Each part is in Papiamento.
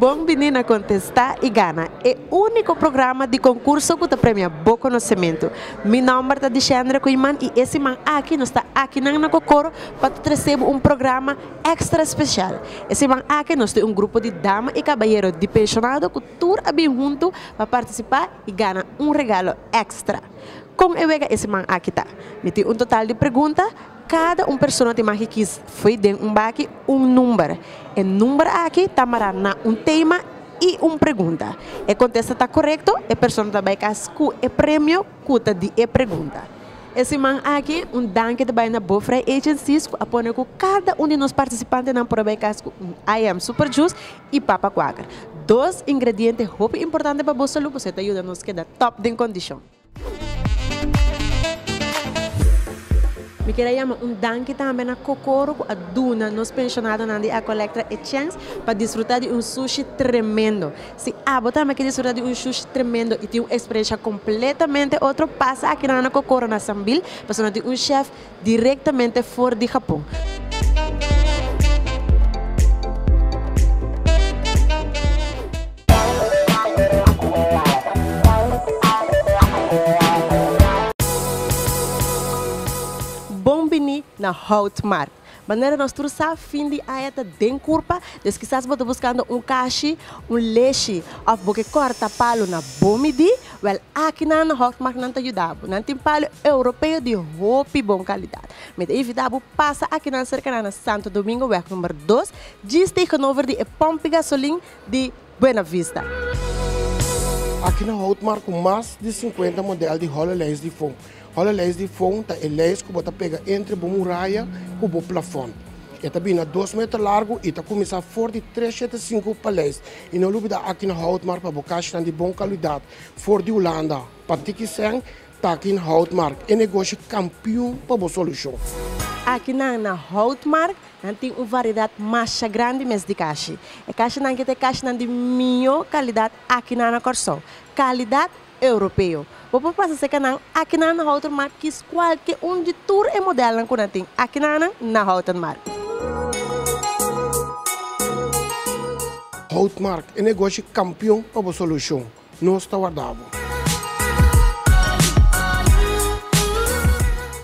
Bon bini na Contesta y Gana, e unico programa di concurso cu ta premia bo conocemento. Mi nomber ta Dicendre Koeiman y e siman aki nos ta akinan na Cocoro pa ta trece bo un programa extra special. E siman aki nos tin un grupo di dama y cabayero di pensionado cu. Tur a bin huntu pa partisipá i gana un regalo èkstra. Kon e wega e siman aki ta? Mi tin un total di pregunta, kada un persona tin maki kis fo'i den un baki un number. E number aki ta mará na un tema i un pregunta. E kontesta ta korekto, e persona ta bai kas ku e premio ku ta di e pregunta. E siman aki, un danki ta bai na Bofrey Agencies ku a pone ku kada un di nos partisipantenan por a bai kas ku un IM Super Juice. y papa cuaker. Dos ingrediente hopi importante pa bo salud pasobra e ta yuda nos keda top den condicion. Mi kier a yama un danki tambe na Kokoro cu a duna nos pensionadonan di Ecolectra e chens pa disfruta di un sushi tremendo. Si abo tambe kier disfruta di un sushi tremendo y tin un experiencia completamente otro pasa aki nan na Kokoro na Sambil pasobra nos tin un chef Directamente for di Japon. Bon bini na Houtmark. Manera nos tur sa, fin di aña ta den curpa, dus kisas bo ta buscando un cashi, un leshi of bo ke corta palo na bo midi, Wel, aki nan na Hofmark nan ta yuda bo. Nan tin palu europeo di hopi bon kalidat. Mi ta invita bo pasa aki nan serka nan na Santo Domingo wèg number dos, djis tegenover di e pòmpi gasolin di Buenavista. Aki na Hofmark ku mas di sinkuenta modèl di Hololens di fon, Ora lais di fon ta e lais ku bo ta pega entre bo muraya ku bo plafon. E ta bini na dos meter largu i ta kuminsá for di tres shete sinku paleis. I no lubidá aki na Houtmark pa bo kashnan di bon kaluidat for di Hulanda. Pa tiki sèn ta aki na Houtmark e negoshi kampiun pa bo solushon. Aki nan na Houtmark nan tin un variedat masha grandi mes di kashi. E kashinan aki ta e kashinan di mihó kalidat aki nan na Kòrsou. Kalidat Europeo. Bo por pasa seca nan akinan na Houten Mar kies cualke un di tur e modelnan cu nan tin akinanan na Houten Mar. Houten Mar, e negoshi campeon pa bo solucion. Nos ta warda bo.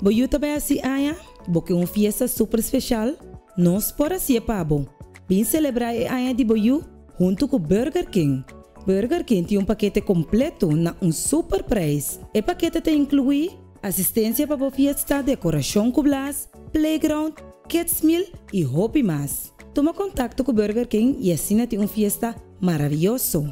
Bo yu ta bai a si aña? Bo ke un fiesta super special? Nos por haci'e pa bo. Bin celebra e aña di bo yu huntu cu Burger King. Burger King tin un pakete completo na un super prijs. E pakete ta inclui asistencia pa bo fiesta, decoracion cu blaas, playground, kids meal y hopi mas. Tuma contacto cu Burger King y asina tin un fiesta Maraviyoso!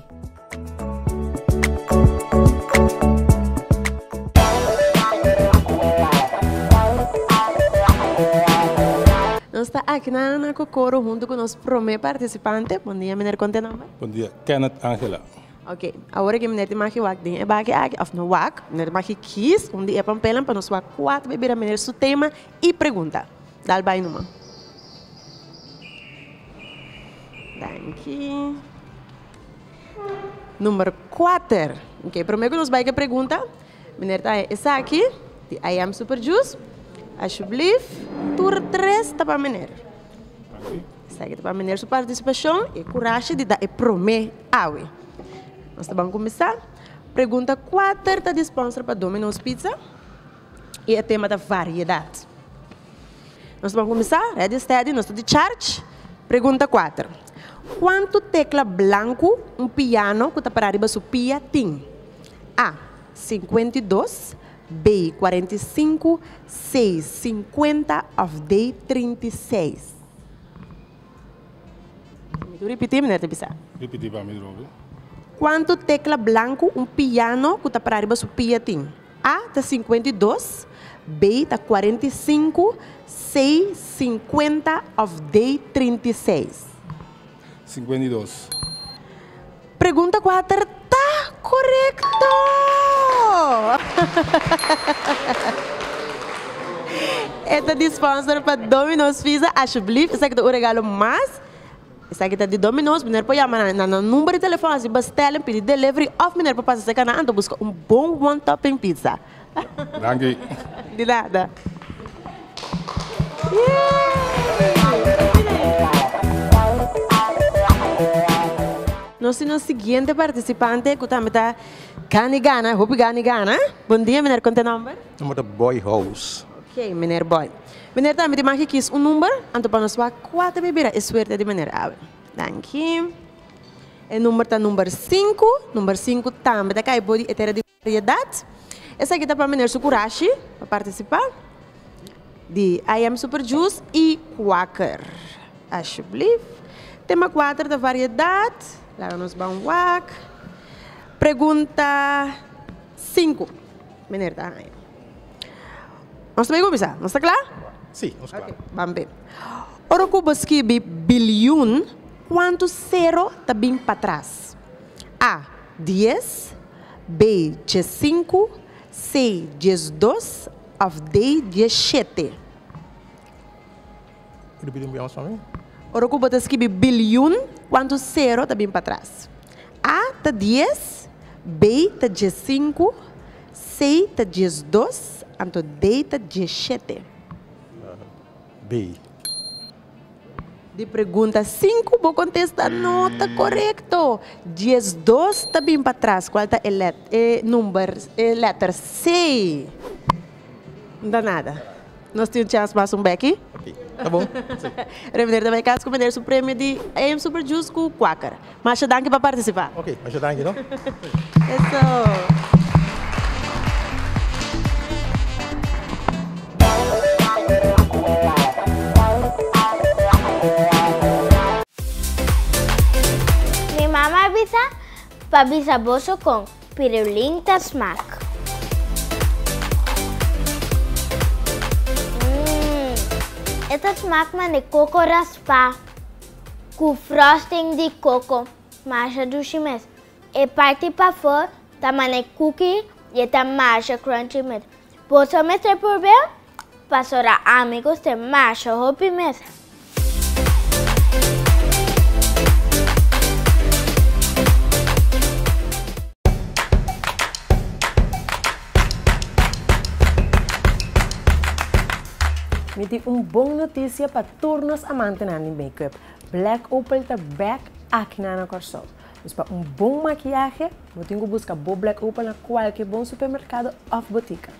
Nos ta aki na na Kokoro huntu ku nos promé partisipante. Bondia miner kon t'e nomber? Bondia, Kenneth Angela. Ok, awor aki miner tin maki wak den e baki aki, of no wak, miner tin maki kies un di e pampelan pa nos wak kuater bebida miner su tema i pregunta. Dal bai numan. Danki. Number kuater. Ok, prome ku nos bai ke pregunta, miner ta haña esaki di I am super jus. Ashublief, tur tres ta pa miner. Esaki ta pa miner su partisipashon i e kurashi di da e prome awe. Nos ta ban kuminsá. Pregunta kuater ta di sponsor pa Domino's Pizza. Y e tema ta Variedad. Nos ban cuminsa, ready steady, nos ta di charge. Pregunta cuater, Cuanto tecla blanco un piano cu ta para riba su pia tin? A. Cincuenta y dos B. Cuarenta y cinco C. Cincuenta of D. Trinta y seis. Mi tur ripiti manera ta bisa. Ripiti pa mi, Robby. Cuanto tecla blanco un piano cu ta para riba su pia tin? A ta sinkuenta i dos, Bey ta kuarenta i sinku, Sey sinkuenta òf Dey trinta i seis? Sinkuenta i dos. Pregunta kuater ta korekto! E ta di sponsor pa Domino's Pizza. Ashublief, esaki ta un regalo mas. Esaki ta di Domino's, miner por yama nan, nan nan number di telefòn así bèstèl en pidi delivery òf miner por pasa serka nan anto buska un bon one topping pizza. Danki. Di nada. Nos tin nos siguiente partisipante ku tambe ta gani gana, hopi gani gana. Bon dia miner, konta e nòmber? Nomber ta Boy House. Ok miner Boy. Meneer tambe di maki kies un number, anto pa nos wak kua ta bibira e suerte di meneer Abel. Danki. E number ta number sinku, number sinku tambe ta kai body e tera di variedat. Esaki ta pa meneer su kurashi pa participa di I am super juice y quaker. Ashublief. Tema kuater ta variedat, laga nos ban wak. Pregunta sinku, meneer ta haya. Nos ta bin kuminsá. Nos ta kla? Sí, nos kla. Ban b'e. Ora ku bo skibi bilyun, kuantu sero ta bin patras? A, Dies, B, Diesinku, C, Diesdos òf D, Dieshete? Ripiti un bia mas pa mi. Ora ku bo ta skibi bilyun, kuantu sero ta bin patras? A, Ta dies, B, ta diesinku, Sei ta diesdos, anto dei ta dieshete. Dei. Di pregunta sinku bo kontesta no ta korekto. Diesdos ta bin patras. Kual ta e lèter? E number, e lèter sei. Nta nada. Nos tin un chans mas un beki. Ok ta bon si. Revener ta bai kas ku meneer su premio di AM Super Juice ku Quaker. Masha danki pa partisipa. Ok masha danki no. Eso. Mi mama a bisa pa bisa boso con. Pirulin ta smak. Mmm. E ta smak mane koko raspa ku frosting di koko. Masha dushi mes. E parti pafó ta mane kuki i e ta masha crunchy mes. Boso mester purbe'l? Pasora amigos te masha hopi mes. Mi tin un bon noticia pa tur nos amantenan di makeup. Black Opal ta back aki na nan Kòrsou. Dus pa un bon makiahe, bo tin ku buska bo Black Opal na kualke bon supermerkado òf botika.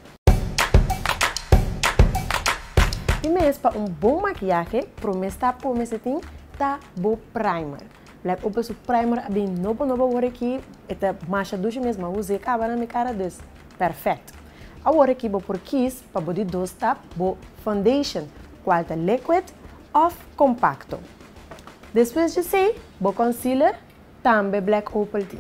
Tin mes pa un bon makiahe, prome stap po mester tin ta bo primer. Blek ope su primer a bin nobo nobo awor aki e ta masha dushi mes ma usa e kaba na mi kara dus perfect. Awor aki bo por kies pa bo di dos stap bo foundation kual ta liquid of compacto. Despues di esei bo concealer Tambe Black Opal tin.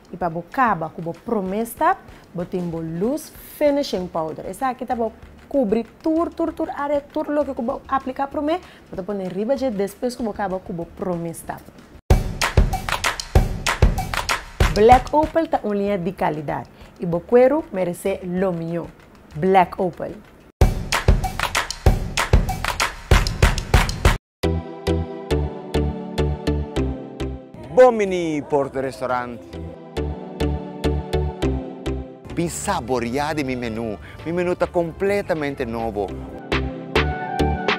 I pa bo kaba ku bo promé stap, bo tin bo lus finishing powder. Esaki ta pa kubri tur tur tur área, tur loke ku bo apliká promé, bo ta pone riba dje despues ku bo kaba ku bo promé stap. Black Opal ta un liña di kalidat i bo kueru meresé lo mihó. Black Opal. Bon mini Porto Restaurant. Bin saboriá di mi menú. Mi menú ta kompletamente nobo.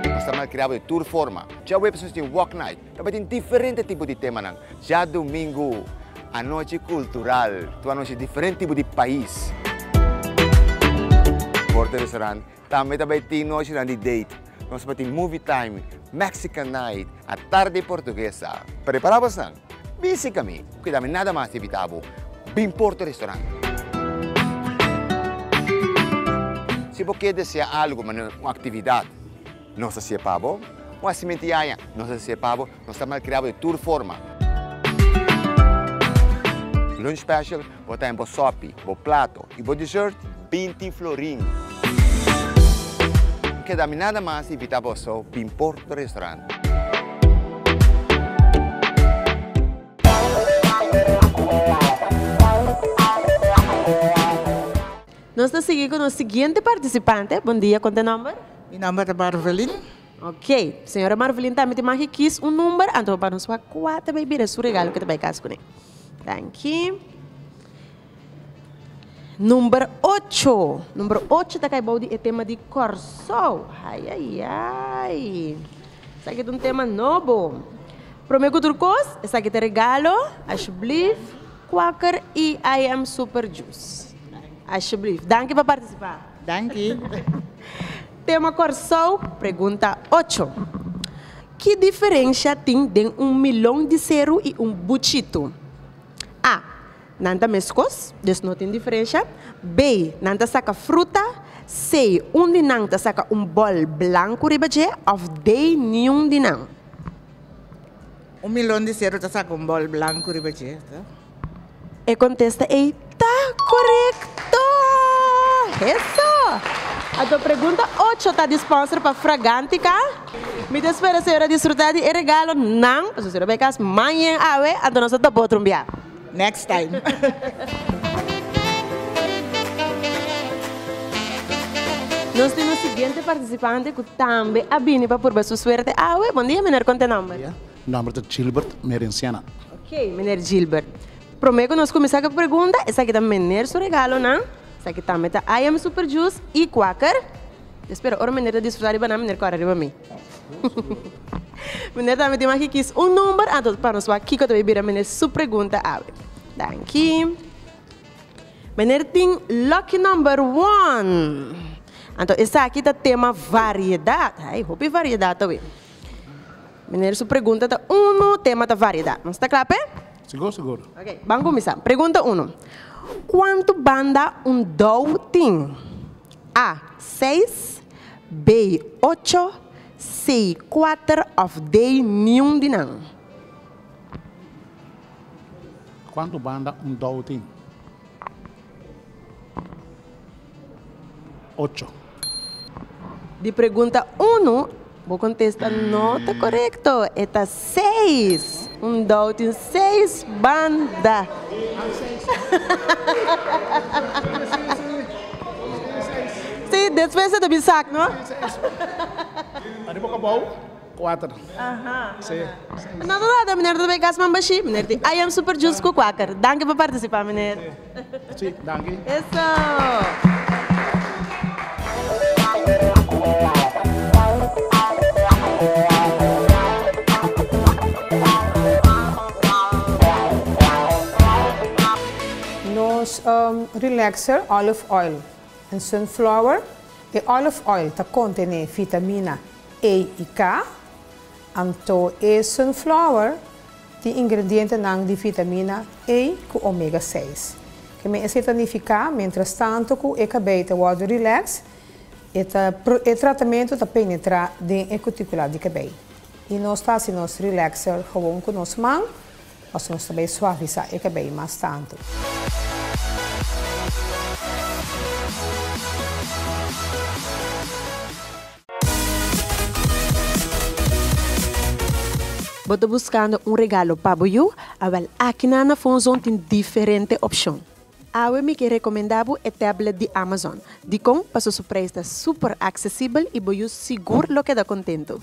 Nos ta malkriado di tur forma. Djaweps nos tin Walk Night. Tabatin diferente tipo di temanan. Djadumingu anochi kultural. Tur anochi diferente tipo di pais. Porto Restaurant Tambe ta bay tin nochinan di date. Nos pa tin movie time, Mexican night, a tarde portuguesa. Prepara bosnan. Bin sika mi. Cuida mi nada mas ta evita bo. Bin por to restaurant. Si bo kier desea algo, mane un actividad, nos ta haci'e pa bo. Un haci'mentiaya, nos ta haci'e pa bo. Nos ta malkriá bo di tur forma. Lunch special por ta den bo sopi, bo plato i bo dessert binti florin. No keda mi nada mas di invitá boso bin Porto Restaurant. Nos ta sigui ku nos siguiente partisipante. Bon dia, konta e nòmber? Mi nòmber ta Barvelin. Ok. Señora Marvelin tambe tin maki kies un number anto bo panos wak kua ta bay bira su regalo ke ta bay cas cune. Danki. Number ocho. Number ocho ta cay bou di e tema di Corsou. Ayayay. Esaki ta un tema nobo. Prome cu tur cos, esaki ta regalo, alsjeblief, Quaker EIM Super Juice. Alsjeblief. Danki pa participa. Danki. Tema Kòrsou, Pregunta ocho. Ki diferensha tin den un milon di seru i un buchitu? A. Nan ta meskos, dus no tin diferensha. B. Nan ta saka fruta. C. Un di nan ta saka un bòl blanku riba dje òf D. Niun di nan. Un milon di seru ta saka un bòl blanku riba dje. E contesta ey ta corecto! Eso! Anto pregunta ocho ta disposter pa Fragantica. Mi ta spera señor a disfruta di e regalo nan pasobra señor a bay cas mañen awe anto nos a topa otro un bia. Next time. Nos tin un siguiente participante cu tambe a bini pa purba su suerte awe. Bon dia meneer con ta nomber? Mi nomber ta Gilbert Merenciana. Ok Meneer Gilbert. Prome ku nos kuminsá ku e pregunta, esaki ta Meneer su regalonan, esaki tambe ta I am Super Juice i Quaker. Mi spera ora Meneer ta disfrutá riba nan, Meneer kòrè riba mi. Meneer tambe tin maki kis un number, anto pa nos wak kiko ta bai bira Meneer su pregunta awe. Danki. Meneer tin lucky number one. Anto esaki ta tema variedat. Ai, hopi variedat awe. Miner su pregunta ta unu, tema ta variedad. Nos ta cla p'e? Sigur, sigur. Ok, ban cuminsa. Pregunta unu. Cuantu banda un dou tin? A. Seis, B. Ocho, C. Cuater of D. Niun di nan. Cuantu banda un dou tin? Ocho. Di pregunta unu, bo kontesta no ta korekto. E ta seis. Un dou tin seis banda. Si, despues e ta bin sak, no? Ariba kabou. Kuater. Nan ta trata meneer Rubén Gasman Bashí, meneer tin I am super juice cu cuaker. Danki pa participa meneer. Sí, danki. Nos relaxer olive oil en sunflower. E olive oil ta contene vitamina. Ei i ka. Anto e sunflower tin ingredientenan di vitamina A ku omega seis. Ke men esei ta nifiká, miéntras tantu ku e kabei ta wòrdu rilèks, e ta e tratamentu ta penetrá den e kutikulá di kabei. I nos ta hasi nos rilèkser, hawon ku nos man, Pasobra nos ta bay suavisá e cabey mas tantu. Bo ta buscando un regalo pa bo yu? A wel, aki nan na Fon Zon tin diferente opcion. Awe mi ke rekomendá bo e tablet di Amazon. Dikon? Paso su preis ta super aksesibel i bo yus sigur lo keda kontentu.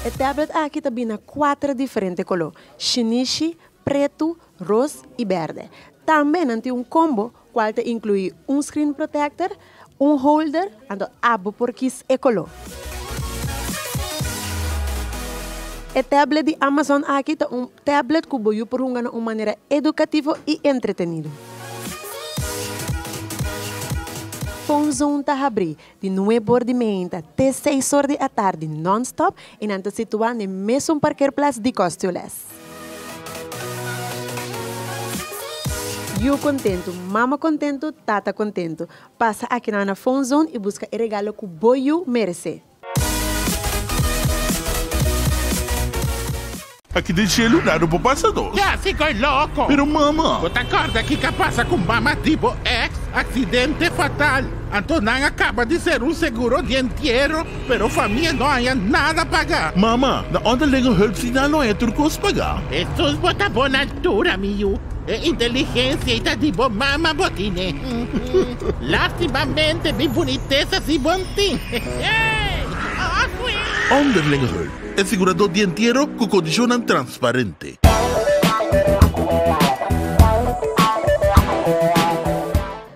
E tablet aki ta bini na kuater diferente koló, shinishi, pretu, ros i berde. Tambe nan tin un kombo kual ta inkluí un screen protector, Un holder, anto abo por kis e koló. E tablet di Amazon aki ta un tablet ku bo yu por hunga na un manera edukativo i entretenido. Phone Zone ta habrí di nueb or di meinta te seis or di atardi non-stop i nan ta situá n'e mesun parkerplats di Kostyoles. Yu kontentu, mama kontentu, tata kontentu. Pasa aki nan na Phone Zone i buska e regalo ku bo yu meresé. Aki den shelu dado bo pasa dos. Ya si koe loko. Pero mama. Bo ta korda kika pasa ku mama di bo ex? Aksidente fatal. Anto nan a kaba di seru seguro di entiero. Pero famia no haya nada paga. Mama, na onderlinge hulpsignaal no haya tur cos paga. Hesus bo ta bon altura mi yu. E inteligencia y ta di bo mama bo tine. Lastimamente mi bunitesa si bo n'tin. Onderlinge hulp, e sigurado di entiero cu condicionnan transparente.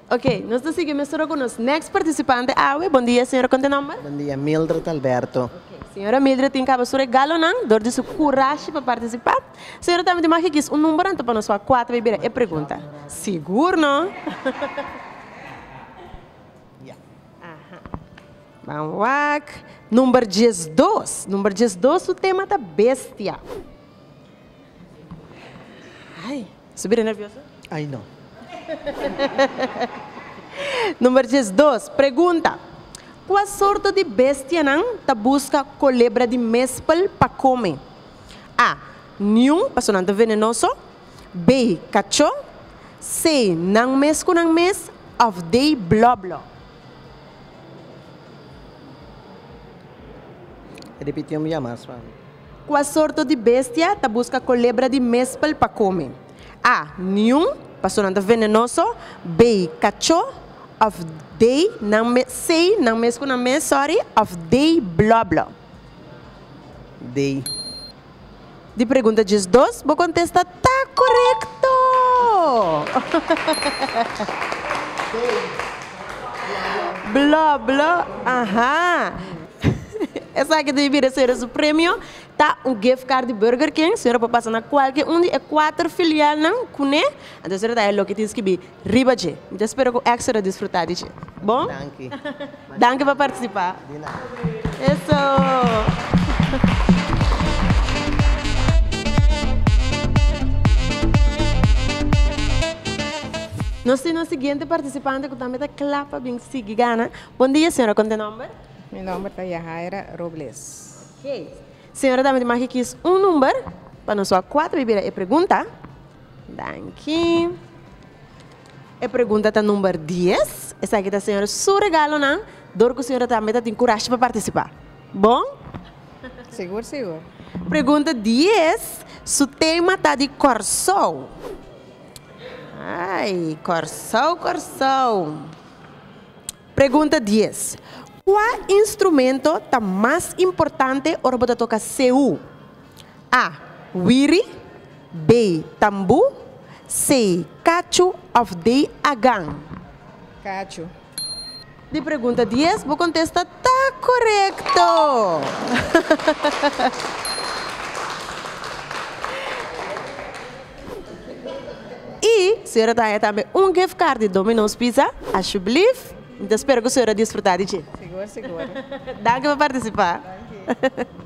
Ok nos ta sigui mesora cu nos next participante awe. Bon dia señora con ta e nomber? Bon dia, Mildred Alberto. Ok, señora Mildred tin caba su regalonan dor di su curashi pa participa. Señora tambe tin mag e kiss un number anto pa nos wak cua ta bay bira e pregunta. Sigur no? Ya. Aha. Ban wak number diesdos. Number diesdos su tema ta bestia. Number diesdos, Pregunta, Kua sorto di bestianan ta buska kolebra di mespel pa kome? A. Niun, paso nan ta venenoso. B. Kacho. C. Nan mes ku nan mes. Òf D. Blòblò. Kua sorto di bestia ta buska kolebra di mespel pa kome? A. Niun, pasobra nan ta venenoso. B. Kacho òf D. Nan mes, C. Nan mes ku nan mes, sòri, òf D. Blòblò. D. Di pregunta djis dos, bo kontesta. Ta korekto! Bló, bló, aha. Esaki ta bira sera su premio, ta un gift card di Burger King. Sera por pasa na kualke un di e kuater filialnan kuné. Anto sera ta e loke tin skibi. Riba dje. Mi ta spera cu Extra a disfruta di dje. Bon? Danki. Danki pa participa. Di nada. Eso. Nos tin nos siguiente participante cu tambe ta cla pa bin sigui gana. Bon dia señora con ta e nomber? Mi nomber ta Yahaira Robles. Ok. Señora tambe tin maki kies un number pa nos wak cuatro bibira e pregunta. Danki. E pregunta ta number dies. Esaki ta señor su regalonan dor cu señora tambe ta tin curashi pa participa. Bon? Sigur sigur. Pregunta dies, su tema ta di Corsou. Ay, Corsou Corsou. Pregunta dies, cua instrumento ta mas importante ora bo ta toca seu? A. Wiri, B. Tambu, C. Kachu òf D. Agan. Kachu. Di pregunta dies bo kontesta ta korekto! I señora Tania tambe un gift card di Domino's Pizza, ashublief. Mi ta spera ku señora disfruta di dje. Sigur sigur. Danki pa partisipá. Danki.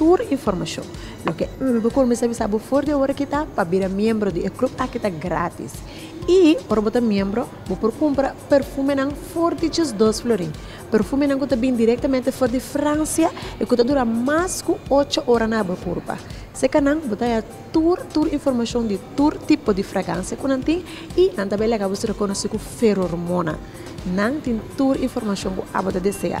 Tur informashon, loke Urbi kuminsá bisa bo for di e ora aki ta pa bira miembro di e klup aki ta grátis. I ora bo ta miembro, bo por kumpra perfumenan for di diesdos florin. Perfumenan ku ta bin direktamente for di Fransia i ku ta dura mas ku ocho ora na bo kurpa. Sekanan bo ta haya tur tur informashon di tur tipo di fragansia ku nan tin i nan ta bai laga bo ser rekonosí ku ferormona. Nan tin tur informashon ku abo ta deseá.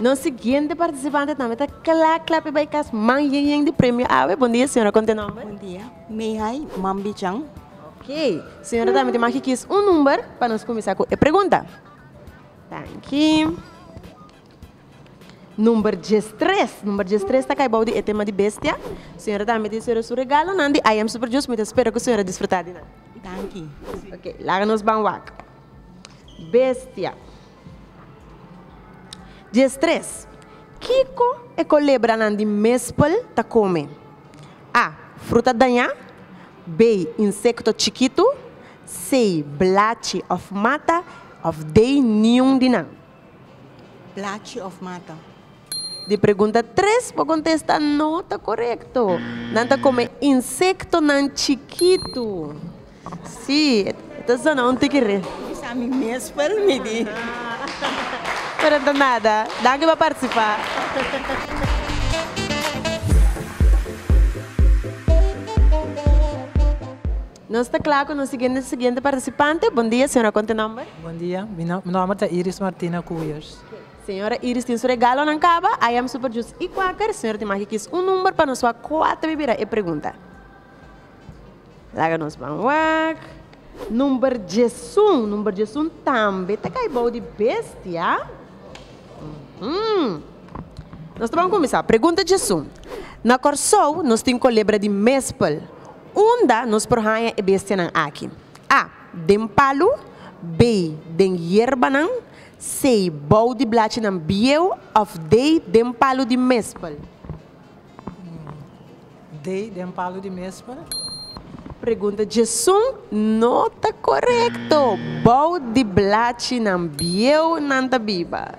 Nos siguiente participante tambe ta kla kla pa bai kas man yen yen di premio awe. Bondia señora kon te nomber? Bondia Meihay Mambichan. Ok señora tambe tin maki kies un number pa nos kumisa ku e pregunta. Danki. Number diestres, number diestres ta kai bou di e tema di bestia. Señora ta miti señora su regalonan di I am super Jus, mi ta spera ku señora disfruta di nan. Danki. Ok, laga nos ban wak. Bestia. Diestres, kiko e kolebranan di mespel ta kome? A, Fruta dañá B, Insekto chikitu C, Blachi òf mata òf D, niun di nan. Plachi of mata? Di pregunta tres bo contesta no ta corecto. Nan ta come insectonan chikitu. Si, e ta zona un tiki re. Bisa a mi mes pel mi di. Pero no ta nada. Danki pa participa. Nos ta kla ku nos siguiente siguiente partisipante. Bon dia, señora konta nòmber? Bon dia, mi nòmber ta Iris Martina Kuyers. Señora Iris tin su regalonan kaba, I am super jus i kwaker. Señora tin maki kis un number pa nos wak kua ta bira e pregunta. Laga nos ban wak. Number diesun, number diesun tambe ta kai bou di bestia. Nos ta ban kuminsá. Pregunta diesun. Na Kòrsou nos tin kolebra di mespel. Unda nos por haña e bestianan aki? a. Den palu B. Den yerbanan C. Bou di blachinan bieu òf D. Den palu di mespel? D. Den palu di mespel. Pregunta djesun no ta korekto. Bou di blachinan bieu nan ta biba.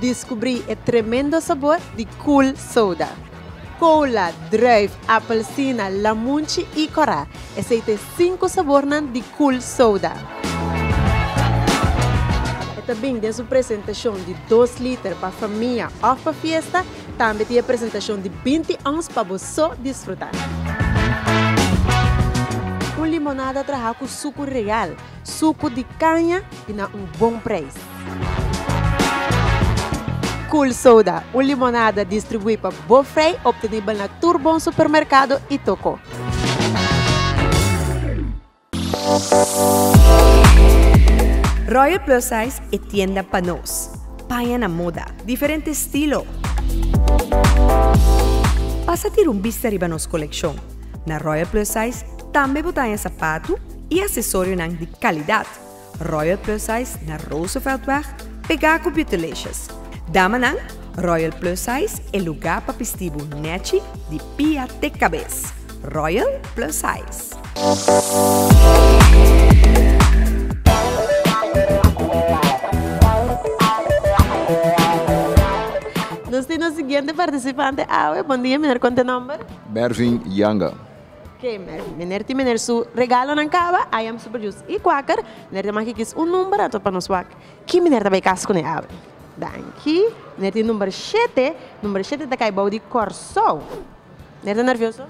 Diskubrí e tremendo sabor di Cool Soda. Kola, druif, apelsina, lamunchi i kòrá, esei ta e sinku sabornan di Cool Soda. E ta bin den su presentashon di dos liter pa famia òf pa fiesta Tambe tin e presentashon di binti ons pa bo so disfrutá. Un limonada trahá ku suku real, suku di kaña i na un bon preis. Cool Soda, un limonada distribuí pa bo frei, optenibel na tur bon supermerkado i tokó. Royal Plus Size e tienda pa nos. Paña na moda, diferente stilo. Pasa tira un bista riba nos kolekshon. Na Royal Plus Size tambe bo ta haña sapatu i asesorionan di kalidat. Royal Plus Ice na Rooseveltweg pegá ku Beautelicious. Damanan, Royal Plus Ice e lugá pa pistí bo nèchi di pia te kabes. Royal Plus Ice. Nos tin nos siguiente partisipante awe. Bon dia, mi no a konta e nòmber. Mervin Yanga. Ke meneer tin meneer su regalonan kaba I am super jus i kwaker meneer tin maki kies un number ato pa nos wak ki meneer ta bay kas kune awe danki meneer tin number shete number shete ta kai bou di korsou meneer ta nervioso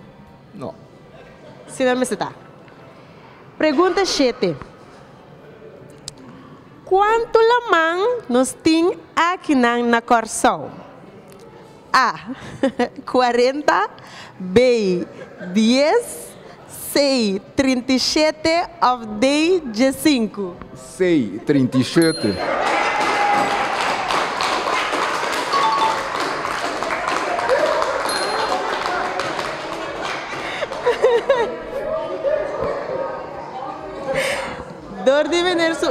no si nan mester ta pregunta shete kuantu laman nos tin akinan na korsou. A. Cuarenta, B. Dies, C. Trinta i shete of D. Djesinku? C. Trinta i shete. Dor di meneer su.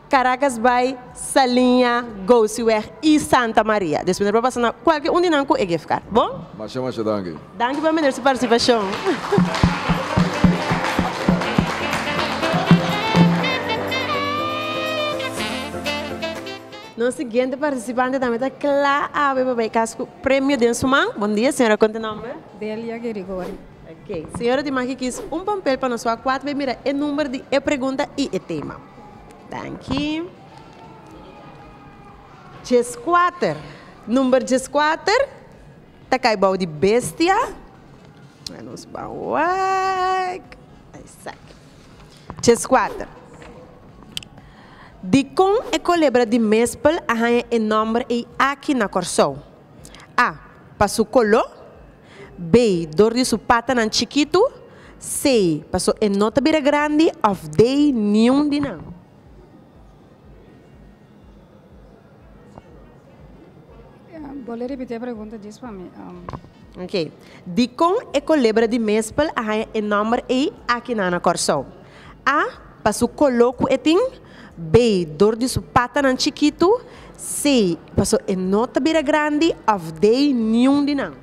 Caracas bai, Saliña, Gousiweg i Santa Maria. Despues nan por pasa na kualke un di nan ku e gift card. Bon? Masha masha danki. Danki pa meneer su partisipashon. Nos siguiente partisipante tambe ta kla awe pa bai kas ku premio den su man. Bon dia señora konta nomber. Delia Gerigori. Señora di maki kiss un pampel pa nos wak kuat bay mira e number di e pregunta y e tema. Danki. Dieskuater, number dieskuater ta kay bou di bestia. Laat nos ban wak. Esaki. Dieskuater. Dikon e kolebra di mespel a haña e nomber ey aki na Kòrsou? A. Pa su kolo. Bay, dor di su patanan chikitu, C, paso e no ta bira grandi, of D, niun di nan. Bole repite e pregunta djis pa mi. Um... Ok. Dikon e kolebra di mespel a haña e nòmber ei aki nan na Kòrsou? A, pa su kolo ku e tin. B, dor di su patanan chikitu. C, paso e no ta bira grandi. Òf D, niun di nan.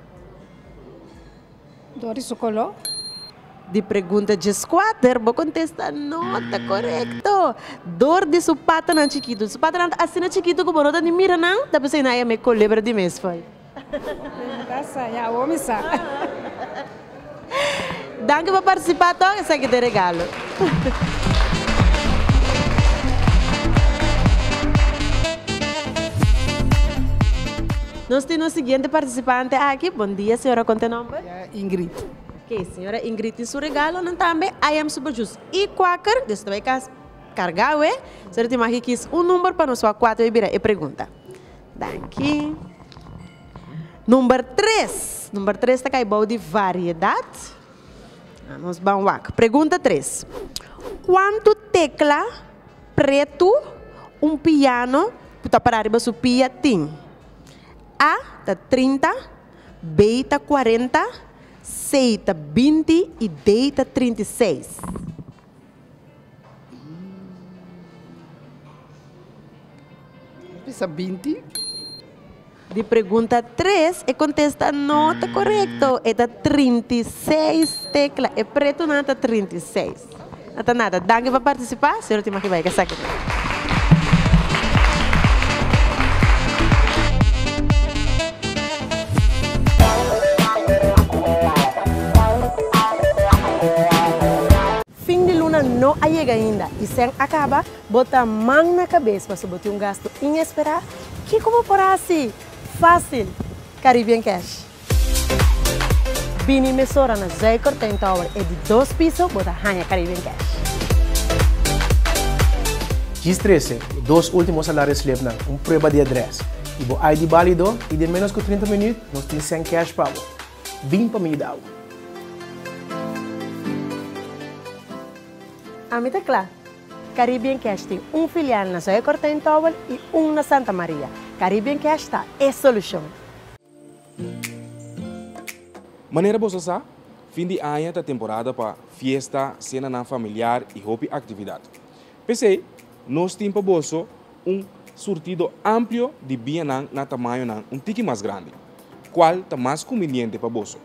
Dor di su kolo. Di pregunta djeskuater bo kontesta no ta korekto. Dor di su patanan chikitu. Su patanan ta asina chikitu ku bo no ta ni mira nan, ta pensa i na e me kulebra di mes. Danki pa partisipa tok, esaki ta e regalo. Nos tin nos siguiente partisipante aki, bondia señora con ta e nomber? Bondia Ingrid. Ok señora Ingrid tin su regalo nan tambe I am super jus y quaker des ta bay cas carga awe so tin maki kies un number pa nos wak cuato y bira e pregunta Danki. Number tres. Number tres ta kai bou di variedat. A nos ban wak. Pregunta tres. Kuantu tekla pretu un piano ku ta pará riba su pia tin? A ta trinta, B ta kuarenta, C ta binti i D ta trinta i seis. Pisa binti. Di pregunta tres, e contesta no ta correcto. E ta 36 tecla. E pretunan ta 36. No ta nada. Danki pa participa. Señor Timaki Baike, Fin di luna no a yega ainda i sen a kaba bo ta man na kabes paso bo tin un gastu inesperá? Kiko bo por hasi? Fásil! Caribbean Cash. Bini mesora na Zuikertijn Tower e di dos piso bo ta haña Caribbean Cash. Djis trese, e dos ultimo salario slipnan, un prueba di adres y bo ID balido y den menos cu trinta minuut nos tin send cash pa bo. Bin pa mi yuda bo. Ami ta cla. Caribbean Cash tin un filial na Zuikertijn Tower y un na Santa Maria. Caribbean Cash ta e solucion. Manera boso sa, fin di aña ta temporada pa fiesta, senanan familiar i hopi aktividat. P'esei, nos tin pa boso un surtido amplio di bianan na tamañonan un tiki mas grandi. Kual ta mas kumbiniente pa boso?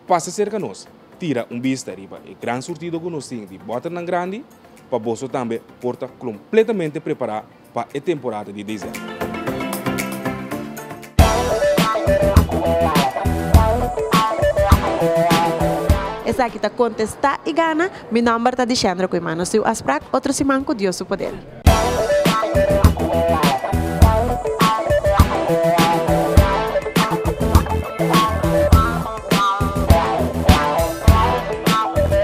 Pasa serka nos, tira un bista riba e gran surtido ku nos tin di bòternan grandi pa boso tambe por ta kompletamente prepará. pa e temporada di desèmber. Esaki ta Contesta y Gana. Mi nomber ta Dishendra cu e mano siu asprak otro siman cu Dios su poder.